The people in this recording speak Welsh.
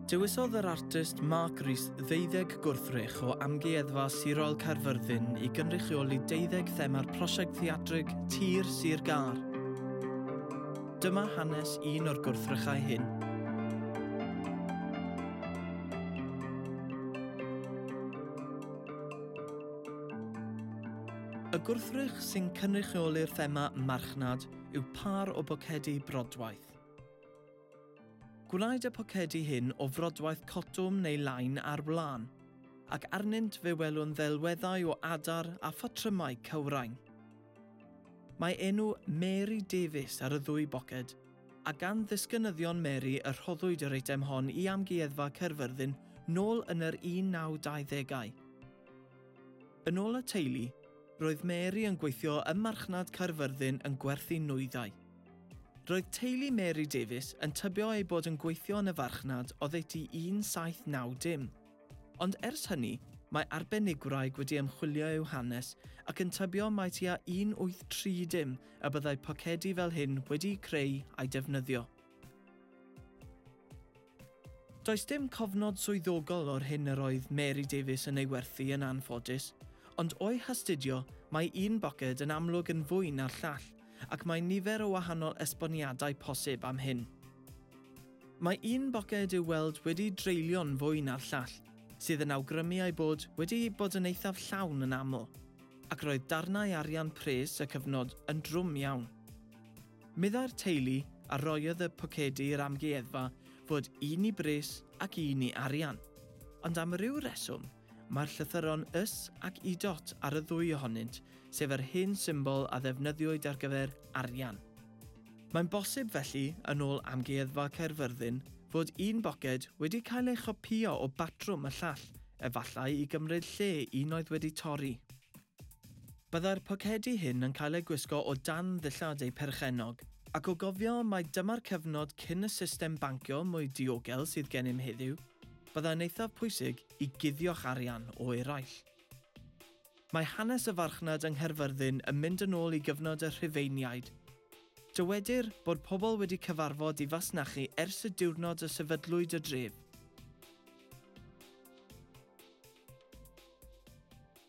Dewisodd yr artist Mark Rees ddeuddeg gwrthrych o Amgueddfa Sirol Caerfyrddin i gynrychioli deuddeg thema'r prosiect theatrig Tir Sir Gar. Dyma hanes un o'r gwrthrychau hyn. Y gwrthrych sy'n cynrychioli'r thema marchnad yw pâr o bocedi brodwaith. Gwnaed y pocedi hyn o frodwaith cotwm neu lain ar wlân, ac arnynt fe welwn ddelweddau o adar a phatrymau cywrain. Mae enw Mary Davies ar y ddwy boced, a gan ddisgynyddion Mary y rhoddwyd yr eitem hon i Amgueddfa Caerfyrddin nôl yn yr 1920au. Yn ôl y teulu, roedd Mary yn gweithio ym marchnad Caerfyrddin yn gwerthu nwyddau. Roedd teulu Mary Davies yn tybio eu bod yn gweithio yn y farchnad oddeutu 1790. Ond ers hynny, mae arbenigwraig wedi ymchwilio i'w hanes ac yn tybio mai tua 1830 y byddai pocedi fel hyn wedi'u creu a'u defnyddio. Does dim cofnod swyddogol o'r hyn yr oedd Mary Davies yn ei werthu yn anffodus, ond o'i hastudio mae un boced yn amlwg yn fwy na'r llall ac mae nifer o wahanol esboniadau posib am hyn. Mae un boced i'w weld wedi dreulio'n fwy na'r llall, sydd yn awgrymu ei bod wedi bod yn eithaf llawn yn aml, ac roedd darnau arian pres y cyfnod yn drwm iawn. Meddai'r teulu a roiodd y pocedi i'r amgueddfa fod un i bris ac un i arian. Ond am ryw reswm, mae'r llythyron ys ac idot ar y ddwy ohonynt, sef yr hen symbol a ddefnyddiwyd ar gyfer arian. Mae'n bosib felly, yn ôl Amgueddfa Caerfyrddin, fod un boced wedi cael ei chopïo o batrwm y llall, efallai i gymryd lle un oedd wedi torri. Byddai'r pocedi hyn yn cael eu gwisgo o dan ddillad eu perchennog. Ac o gofio mai dyma'r cyfnod cyn y system bancio mwy diogel sydd gennym heddiw, byddai'n eithaf pwysig i guddio'ch arian o eraill. Mae hanes y farchnad yng Nghaerfyrddin yn mynd yn ôl i gyfnod y Rhufeiniaid. Dywedir bod pobl wedi cyfarfod i fasnachu ers y diwrnod y sefydlwyd y dref.